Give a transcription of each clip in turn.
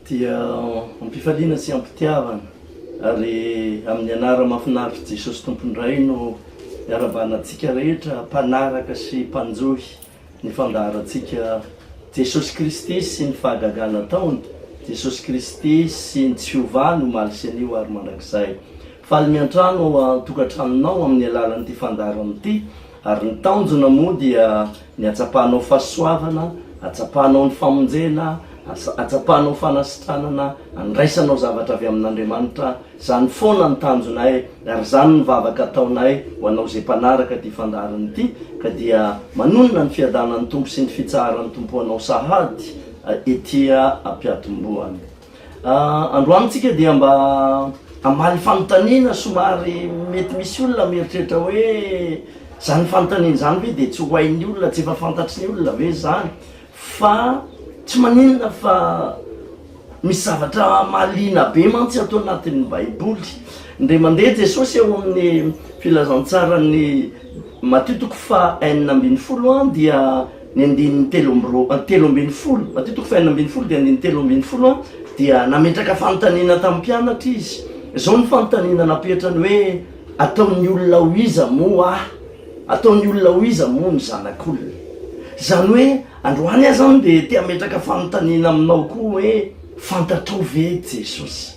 dia ampifaliana sy ampitiavana ary amin'ny anara mafinaritra Jesosy Tompon'ny Ray no iarabahanantsika rehetra mpanaraka sy mpanjohy Ny fandaharantsika Jesosy Kristy sy ny fahagagana ataony, Jesosy Kristy sy ny tsy fiovany omaly sy anio ary mandrakizay. Faly miantrano ao an-tokantranonao amin'ny alalan'ity fandaharana ity, ary ny tanjona moa dia ny hatsapanao fahasoavana, hatsapanao ny famonjena, hatsapanao fanasitranana, handraisanao zavatra avy amin'Andriamanitra, Zany foana ny tanjonay ary zany ny vavaka ataonay ho anao izay mpanaraka ity fandaharana ity ka dia manonona ny fiadanan'ny Tompo sy ny fitsaharan'ny Tompo anao sahady ety ampiatombohany. Androany tsika dia mba hamaly fanontaniana somary mety misy olona mieritreritra hoe zany fanontaniana zany ve dia tsy ho hain'ny olona, tsy efa fantatry ny olona ve zany? Fa tsy maninona fa misy zavatra mahaliana be mantsy ato anatin'ny Baiboly. Indray mandeha Jesosy ao amin'ny filazantsaran'ny Matio toko faha enina ambin'ny folo an, dia ny andininy telo amby roa, ah, telo ambin'ny folo, Matio toko fahenina ambin'ny folo dia andininy telo ambin'ny folo an, dia nametraka fanontaniana tamin'ny mpianatra izy. Izao ny fanontaniana napetrany hoe, Ataon'ny olona ho iza moa aho? Ataon'ny olona ho iza moa ny zanak'olona? Izany hoe androany aza aho dia te-hametraka fanontaniana aminao koa hoe, fantatrao ve Jesosy?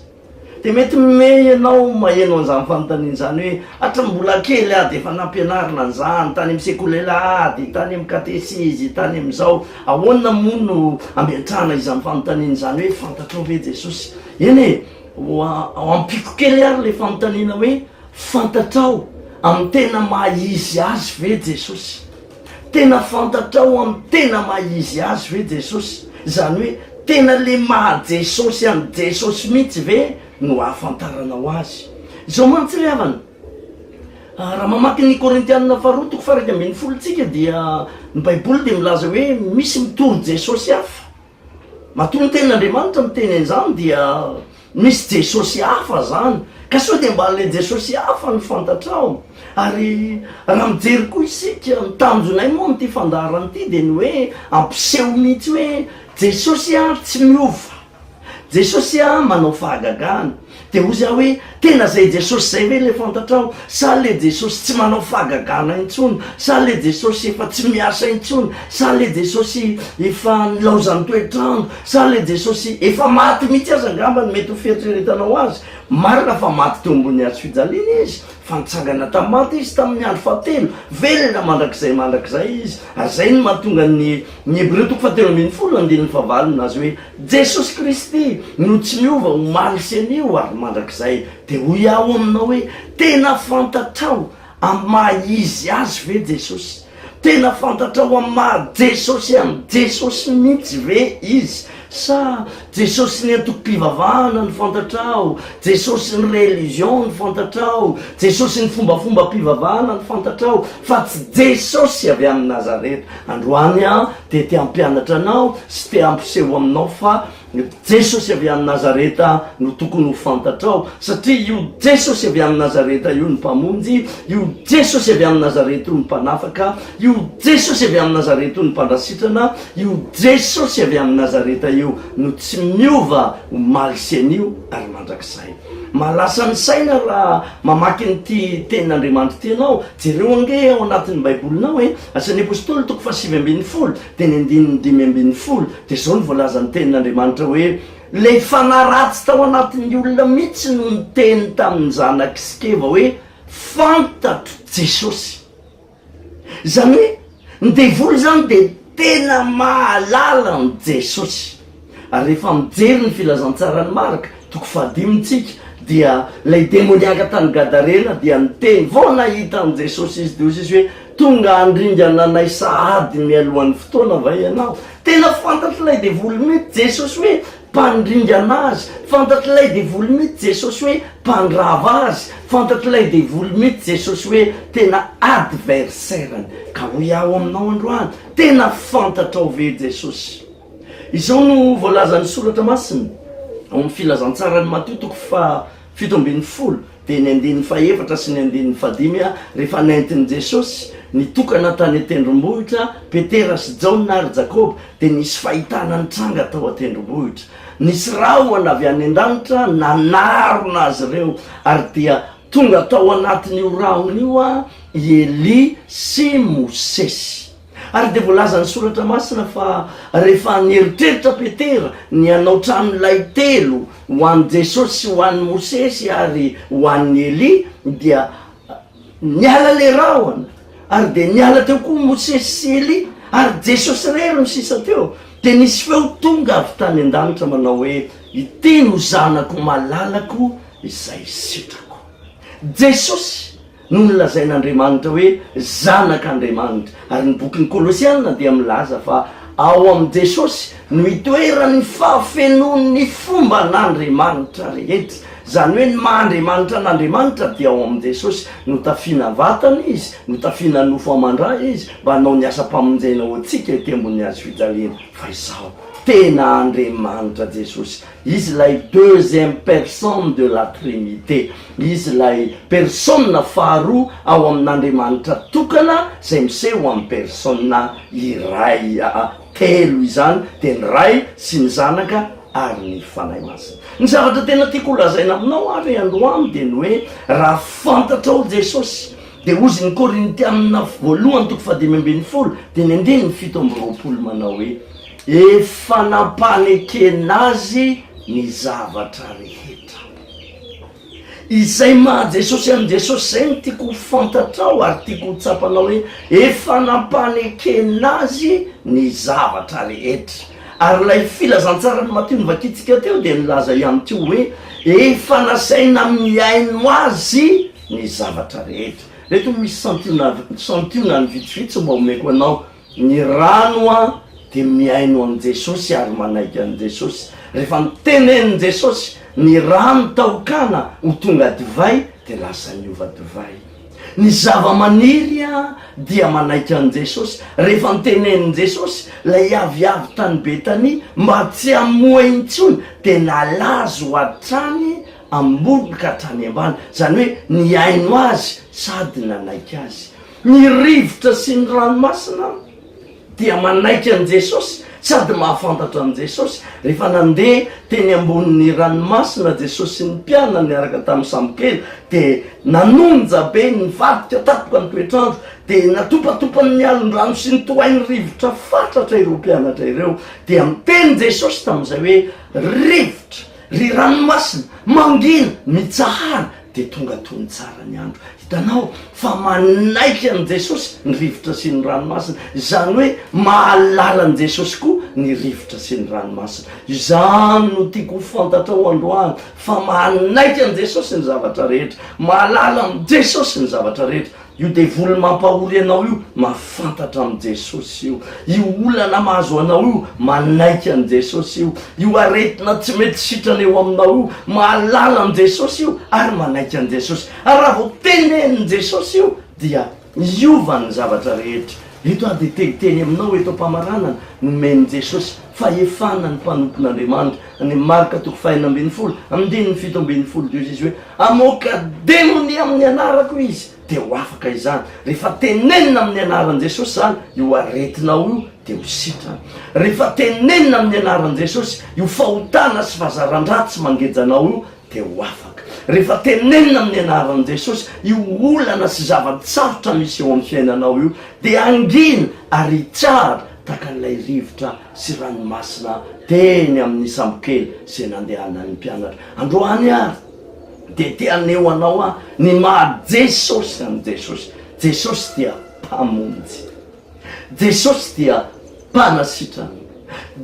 Dia mety mihomehy ianao maheno an'izany fanontaniana izany hoe, hatry ny mbola kely aho dia efa nampianarina an'izany, tany amin'ny sekolelà ady, tany amin'ny katesizy, tany amin'izao. Ahoana moa no ametrahana izany fanontaniana izany hoe, fantatrao ve Jesosy? Eny e, ho ampiko kely ary ilay fanontaniana hoe, Fantatrao amin'ny tena maha-izy azy ve Jesosy? Tena fantatrao amin'ny tena maha-izy azy ve Jesosy? Izany hoe tena ilay maha-Jesosy an'i Jesosy mihitsy ve no ahafantaranao azy? Izao mantsy ry havana, raha mamaky ny Korintianina faharoa toko faha-iraika ambin'ny folo isika dia ny Baiboly dia milaza hoe misy mitory Jesosy hafa. Matoa ny tenin'Andriamanitra miteny an'izany dia misy Jesosy hafa izany, ka sao dia mba ilay Jesosy hafa no fantatrao? Ary raha mijery koa isika, ny tanjonay moa amin'ity fandaharana ity dia ny hoe hampiseho mihitsy hoe Jesosy tsy miova, Jesosy manao fahagagana. Dia hoy aho hoe, tena izay Jesosy izay ve ilay fantatrao? Sa ilay Jesosy tsy manao fahagagana intsony? Sa ilay Jesosy efa tsy miasa intsony? Sa ilay Jesosy efa nilaozan'ny toetr'andro? Sa ilay Jesosy efa maty mihitsy aza angamba no mety ho fieritreretanao azy? Marina fa maty teo ambony hazo fijaliana izy, fa nitsangana tamin'ny maty izy tamin'ny andro fahatelo, velona mandrakizay mandrakizay izy, ary izay no mahatonga ny Ny Hebreo toko fahatelo ambin'ny folo andininy fahavalo milaza hoe, Jesosy Kristy no tsy miova omaly sy anio ary mandrakizay. Dia hoy aho aminao hoe, Tena fantatrao amin'ny maha Izy Azy ve Jesosy? Tena fantatrao amin'ny maha Jesosy an'i Jesosy mihitsy ve Izy? Sa Jesosy ny antokom-pivavahana no fantatrao? Jesosy ny religion no fantatrao? Jesosy ny fombafombam-pivavahana no fantatrao? Fa tsy Jesosy avy any Nazareta. Androany aho dia te hampianatra anao sy te hampiseho aminao fa Jesosy avy any Nazareta no tokony ho fantatrao. Satria io Jesosy avy any Nazareta io ny Mpamonjy, io Jesosy avy any Nazareta io ny Mpanafaka, io Jesosy avy any Nazareta io ny Mpandrasitrana, Io Jesosy avy amin'i Nazareta io no tsy miova omaly sy anio ary mandrakizay. Mahalasa ny saina raha mamaky an'ity tenin'Andriamanitra ity ianao. Jereo ange ao anatin'ny Baibolinao e! Asan'ny Apostoly toko fahasivy ambin'ny folo, teny andininy dimy ambin'ny folo, dia izao no voalazan'ny tenin'Andriamanitra hoe, Ilay fanahy ratsy tao anatin'ny olona mihitsy no niteny tamin'ny zanak'i Skeva hoe, Fantatro Jesosy. Izany hoe ny devoly izany dia tena mahalala an'i Jesosy. Ary rehefa mijery ny filazantsaran'i Marc, toko fahadimy, tsika, dia ilay demoniaka tany Gadarena dia niteny vao nahita an'i Jesosy izy, dia hoy Jesosy hoe, Tonga handringana anay sahady mialohan'ny fotoana va ianao? Tena fantatr'ilay devoly mihitsy Jesosy hoe mpandringana azy, fantatr'ilay devoly mihitsy Jesosy hoe mpandrava azy, fantatr'ilay devoly mihitsy Jesosy hoe tena adversaire-ny, ka hoy aho aminao androany, tena fantatrao ve Jesosy? Izao no voalazan'ny soratra masina ao amin'ny filazantsaran'i Matio toko faha Fito ambin'ny folo, dia ny andininy fahefatra sy ny andininy fahadimy a Rehefa nentin'i Jesosy nitokana tany an-tendrombohitra Petera sy Jaona ary Jakoba, dia nisy fahitana nitranga tao an-tendrombohitra. Nisy rahona avy any an-danitra nanarona azy ireo, ary dia tonga tao anatin'io rahona io a i Elia sy Mosesy. Ary dia voalazan'ny Soratra Masina fa rehefa nieritreritra Petera ny hanao tranolay telo ho an'i Jesosy sy ho an'i Mosesy ary ho an'i Elia dia niala ilay rahona ary dia niala teo koa Mosesy sy Elia ary Jesosy irery no sisa teo. Dia nisy feo tonga avy tany an-danitra manao hoe, Iteny ho zanako malalako izay sitrako. Jesosy no nolazain'Andriamanitra hoe Zanak'Andriamanitra, ary ny bokin'ny Kolosiana dia milaza fa ao amin'i Jesosy no itoeran'ny fahafenoan'ny fomban'Andriamanitra rehetra, izany hoe ny maha-Andriamanitra an'Andriamanitra dia ao amin'i Jesosy, notafiana vatana izy, notafiana nofo aman-dra izy mba hanao ny asam-pamonjena ho antsika ety ambony hazofijaliana, fa izao, tena Andriamanitra Jesosy. Izy ilay deuxième personne de la Trinité, Izy ilay persona faharoa ao amin'Andriamanitra tokana izay miseho ho amin'ny persona iray, aa, telo izany dia ny Ray sy ny Zanaka ary ny Fanahy Masina. Ny zavatra tena tiako ho lazaina aminao ary androany dia ny hoe raha fantatrao Jesosy dia ozy ny Korintiana voalohany toko fahadimy ambin'ny folo dimy andininy fito amby roapolo manao hoe, Efa nampanekena azy ny zavatra rehetra. Izay maha Jesosy an'i Jesosy izay no tiako ho fantatrao ary tiako ho tsapanao hoe efa nampanekena azy ny zavatra rehetra. Ary ilay filazantsaran'i Matio novakintsika teo dia nilaza ihany koa hoe efa nasaina amin'ny aino azy ny zavatra rehetra. Ireto misy santionany vitsivitsy mba omeko anao. Ny rano an dia mihaino an'i Jesosy ary manaiky an'i Jesosy. Rehefa nitenenin'i Jesosy ny rano tao Kana ho tonga divay dia lasa niova divay. Ny zava-maniry an dia manaiky an'i Jesosy. Rehefa nitenenin'i Jesosy ilay aviavy tany Betania mba tsy hamoa intsony dia nalazo hatrany ambony ka hatrany ambany. Izany hoe nihaino Azy sady nanaiky Azy. Ny rivotra sy ny ranomasina dia manaiky an'i Jesosy sady mahafantatra an'i Jesosy. Rehefa nandeha teny ambonin'ny ranomasina Jesosy sy ny mpianany niaraka tamin'ny sambokely, dia nanonja be, nivadika tampoka ny toetr'andro, dia natopatopan'ny alon-drano sy nitohain'ny rivotra fatratra ireo mpianatra ireo. Dia niteny Jesosy tamin'izay hoe, Rivotra, ry ranomasina, mangina, mitsahara! dia tonga tony tsara ny andro. Hitanao fa manaiky an'i Jesosy ny rivotra sy ny ranomasina. Izany hoe mahalala an'i Jesosy koa ny rivotra sy ny ranomasina. Izany no tiako ho fantatrao androany fa manaiky an'i Jesosy ny zavatra rehetra. Mahalala an'i Jesosy ny zavatra rehetra. Io devoly mampahory anao io mahafantatra amin'i Jesosy io. Io olana mahazo anao io manaiky an'i Jesosy io. Io aretina tsy mety sitrana eo aminao io mahalala an'i Jesosy io ary manaiky an'i Jesosy. Ary raha vao tenenin'i Jesosy io dia miova ny zavatra rehetra. Eto aho dia te hiteny aminao eto am-pamaranana, nomen'i Jesosy fahefana ny mpanompon'Andriamanitra Ny Marka toko fahenina ambin'ny folo, andininy fito ambin'ny folo Dia hoy Jesosy hoe, Hamoaka demony amin'ny anarako izy, dia ho afaka izany. Rehefa tenenina amin'ny anaran'i Jesosy izany, io aretinao io dia ho sitrana. Rehefa tenenina amin'ny anaran'i Jesosy io fahotana sy fahazaran-dratsy mangeja anao io dia ho afaka. Rehefa tenenina amin'ny anaran'i Jesosy io olana sy zava-tsarotra misy eo amin'ny fiainanao io dia hangina ary hitsahatra tahaka an'ilay rivotra sy ranomasina teny amin'ny sambokely izay nandehanan'ny mpianatra. Androany ary dia te haneho anao aho ny maha Jesosy an'i Jesosy. Jesosy dia Mpamonjy. Jesosy dia Mpanasitrana.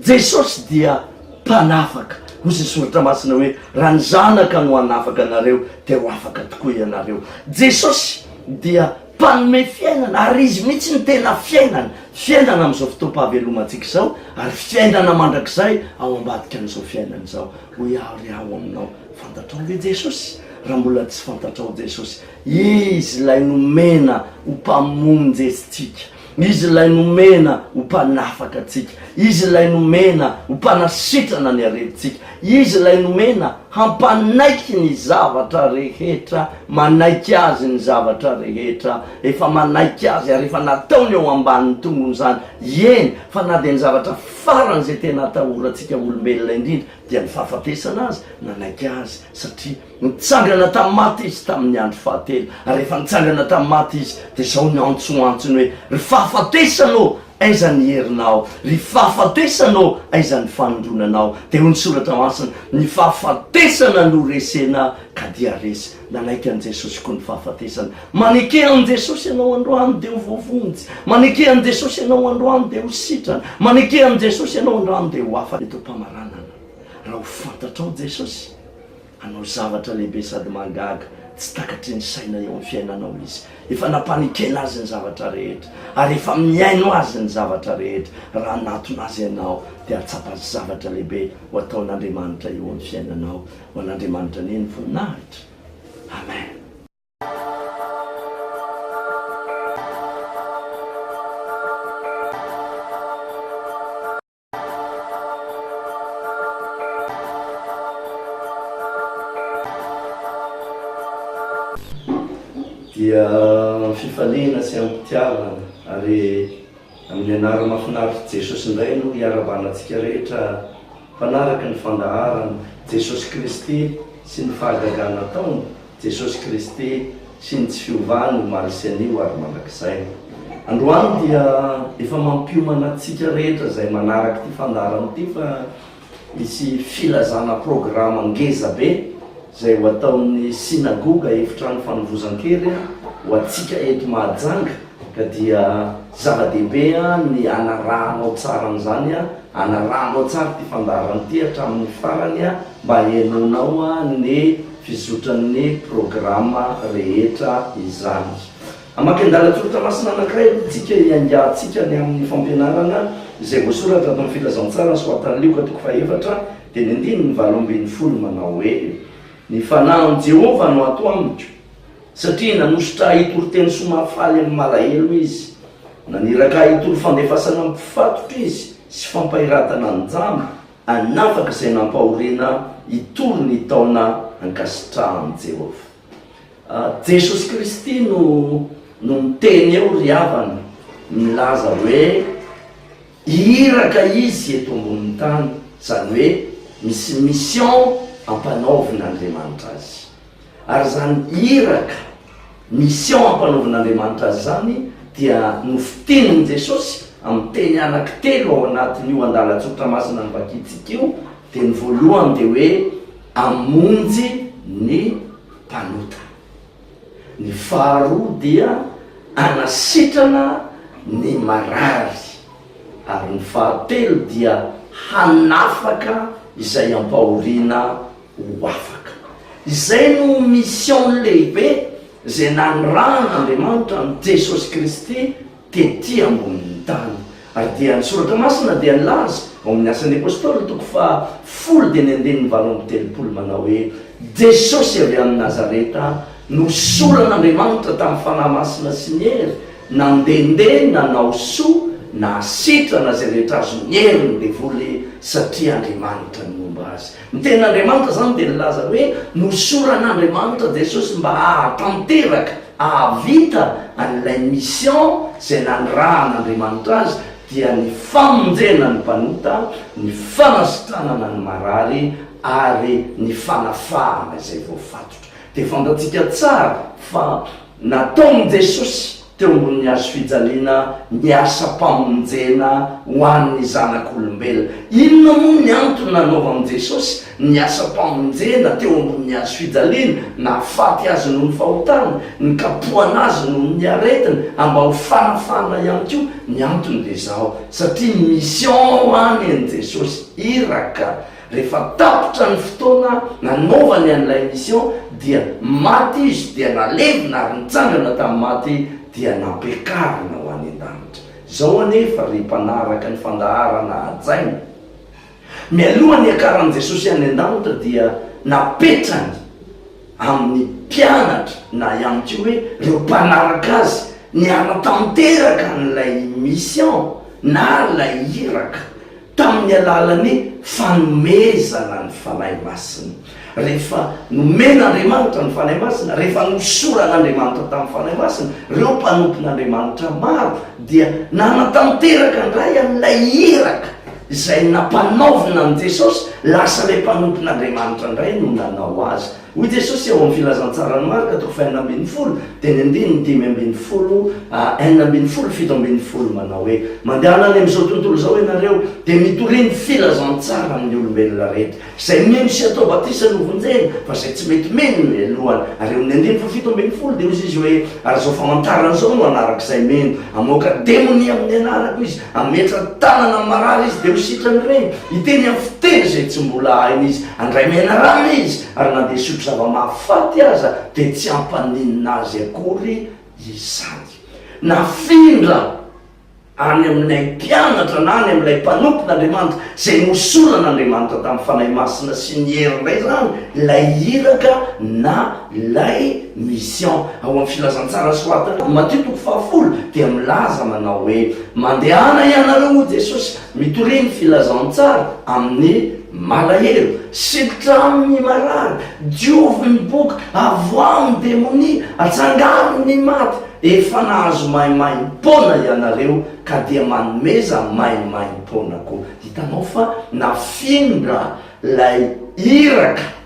Jesosy dia Mpanafaka. Hoy izay soratra masina hoe, raha ny Zanaka no hanafaka anareo dia ho afaka tokoa ianareo. Jesosy dia Mpanome fiainana, ary Izy mihitsy no tena fiainana, fiainana amin'izao fotoam-pahavelomantsika izao, ary fiainana mandrakizay ao ambadika an'izao fiainana izao. Hoy aho ry aho aminao, fantatrao ve Jesosy? Raha mbola tsy fantatrao Jesosy, Izy ilay nomena ho Mpamonjy antsika. Izy ilay nomena ho mpanafaka antsika. Izy ilay nomena ho mpanasitrana ny aretintsika. Izy ilay nomena hampanaiky ny zavatra rehetra, manaiky Azy ny zavatra rehetra, efa manaiky Azy ary efa nataony eo ambanin'ny tongony izany, eny, fa na dia ny zavatra farany izay tena atahorantsika olombelona indrindra dia ny fahafatesana aza, nanaiky Azy satria. Nitsangana tamin'ny maty Izy tamin'ny andro fahatelo, ary rehefa nitsangana tamin'ny maty Izy, dia izao ny antso antsony hoe, Ry fahafatesana ô, aiza ny herinao? Ry fahafatesana ô, aiza ny fanindronanao? Dia hoy ny Soratra Masina, Ny fahafatesana no resena, ka dia resy. Nanaiky an'i Jesosy koa ny fahafatesana. Maneke an'i Jesosy ianao androany, dia ho voavonjy. Maneke an'i Jesosy ianao androany, dia ho sitrana. Maneke an'i Jesosy ianao androany, dia ho hafa eto am-pamaranana. Raha ho fantatrao Jesosy, Hanao zavatra lehibe sady mahagaga tsy takatry ny saina eo amin'ny fiainanao Izy. Efa nampanekena Azy ny zavatra rehetra, ary efa mihaino Azy ny zavatra rehetra. Raha hanatona Azy ianao, dia hahatsapa zavatra lehibe ho ataon'Andriamanitra eo amin'ny fiainanao. Ho an'Andriamanitra anie ny voninahitra. Amen. dia amin'ny fifaliana sy amim-pitiavana ary amin'ny anarany mahafinaritr'i Jesosy indray no hiara-balantsika rehetra mpanaraka ny fandaharana, Jesosy Kristy sy ny fahagagana ataony Jesosy Kristy sy ny tsy fiovany omaly sy anio ary mandrakizay. Androany dia efa mampiomana antsika rehetra izay manaraka ity fandaharana ity fa hisy filazana programa ngeza be izay ho ataon'ny Synagoga Efitrano Fanovozan-kery ho antsika eto Mahajanga ka dia zava-dehibe ny hanarahanao tsara an'izany, hanarahanao tsara ity fandaharana ity hatramin'ny farany. Mba henoinao ny fizotran'ny programa rehetra izany. Hamakian-dalan-tsoratra masina anankiray aloha tsika hiaingantsika ny amin'ny fampianarana izay voasoratra ato amin'ny Filazantsara soatan'i Lioka toko fahefatra dia ny andininy valo ambin'ny folo manao hoe, Ny fanahin'i Jehovah no ato amiko, satria nanosotra ahy hitory teny soa mahafaly amin'ny malahelo izy. Naniraka ahy hitory fandefasana ny mpifatotra izy sy fampahiratana ny jamba. hanafaka izay nampahoriana hitory ny taona ankasitrahan'i Jehovah. Jesosy Kristy no no niteny eo ry havana, nilaza hoe iraka izy eto ambonin'ny tany, izany hoe misy mission ampanaovin'Andriamanitra azy. Ary izany iraka, mission ampanaovin'Andriamanitra azy izany dia nofitenin'i Jesosy amin'ny teny anaky telo ao anatin'io andalan-tsotra masina novakintsika io, teny voalohany dia hoe hamonjy ny mpanota, ny faharoa dia hanasitrana ny marary ary ny fahatelo dia hanafaka izay ampahoriana ho afaka. Izay no mission lehibe izay nanirahan'Andriamanitra an'i Jesosy Kristy tety ambonin'ny tany. Ary dia ny Soratra Masina dia nilaza ao amin'ny Asan'ny Apostoly toko faha folo teny andininy valo amby telopolo manao hoe, Jesosy avy any Nazareta no soran'Andriamanitra tamin'ny Fanahy Masina sy ny hery, nandehandeha nanao soa nahasitrana izay rehetra azon'ny hery ny devoly satria Andriamanitra no nomba azy. Ny tenin'Andriamanitra izany dia nilaza hoe nohosoran'Andriamanitra Jesosy mba hahatanteraka, hahavita an'ilay mission izay nanirahan'Andriamanitra azy, dia ny famonjena ny mpanota, ny fanasitranana ny marary ary ny fanafahana izay voafatotra. Dia fantatsika tsara fa nataon'i Jesosy teo ambonin'ny hazo fijaliana ny asam-pamonjena ho an'ny zanak'olombelona. Inona moa ny antony nanaovan'i Jesosy ny asam-pamonjena teo ambonin'ny hazo fijaliana? Nahafaty azy noho ny fahotany, nikapohana azy noho ny aretina, mba ho fanafahana ihany koa. Ny antony dia izao, satria mission any an'i Jesosy. Iraka. Rehefa tapitra ny fotoana nanaovany an'ilay mission dia maty izy dia nalevina ary nitsangana tamin'ny maty dia nampiakarina ho any an-danitra. Izao anefa ry mpanaraka ny fandaharana hajaina, mialoha ny hiakaran'i Jesosy any an-danitra dia napetrany amin'ny mpianatra na ihany koa hoe ireo mpanaraka azy ny hanatanteraka an'ilay mission na ilay iraka tamin'ny alalan'ny fanomezana ny Fanahy Masina, rehefa nomen'Andriamanitra ny Fanahy Masina, rehefa nosoran'Andriamanitra tamin'ny Fanahy Masina, ireo mpanompon'Andriamanitra maro dia nanatanteraka indray an'ilay iraka izay nampanaovina an'i Jesosy, lasa ilay mpanompon'Andriamanitra indray no nanao azy Hoy Jesosy ao amin'ny Filazantsaran'i Marka toko fahenina ambin'ny folo, teny andininy dimy ambin'ny folo, ha, enina ambin'ny folo, fito ambin'ny folo, manao hoe, Mandehana any amin'izao tontolo izao ianareo, dia mitoria ny filazantsara amin'ny olombelona rehetra. Izay mino sy atao batisa no vonjena, fa izay tsy mety mino no helohana. Ary eo amin'ny andininy fahafito ambin'ny folo dia hoy Izy hoe, Ary izao famantarana izao no hanaraka izay mino, hamoaka demonia amin'ny anarako izy, Hametra tanana amin'ny marary izy dia ho sitran'ny reny. Hiteny amin'ny fiteny izay tsy mbola hainy izy. Handray menarana izy, ary na dia hisotro zava-mahafaty aza dia tsy hampaninona azy akory izany. Nafindra any amin'ilay mpianatra na any amin'ilay mpanompon'Andriamanitra izay nohosoran'Andriamanitra tamin'ny Fanahy Masina sy ny hery indray izany ilay iraka na Ilay mission ao amin'ny Filazantsara soratana ao Matio toko fahafolo dia milaza manao hoe, Mandehana ianareo, hoy Jesosy, mitoria ny Filazantsara amin'ny malahelo, sitritra amin'ny marary, diovy ny boka, avoaho ny demonia, atsangaro ny maty, efa nahazo maimaim-poana ianareo ka dia manomeza maimaim-poana koa. Hitanao fa nafindra ilay iraka.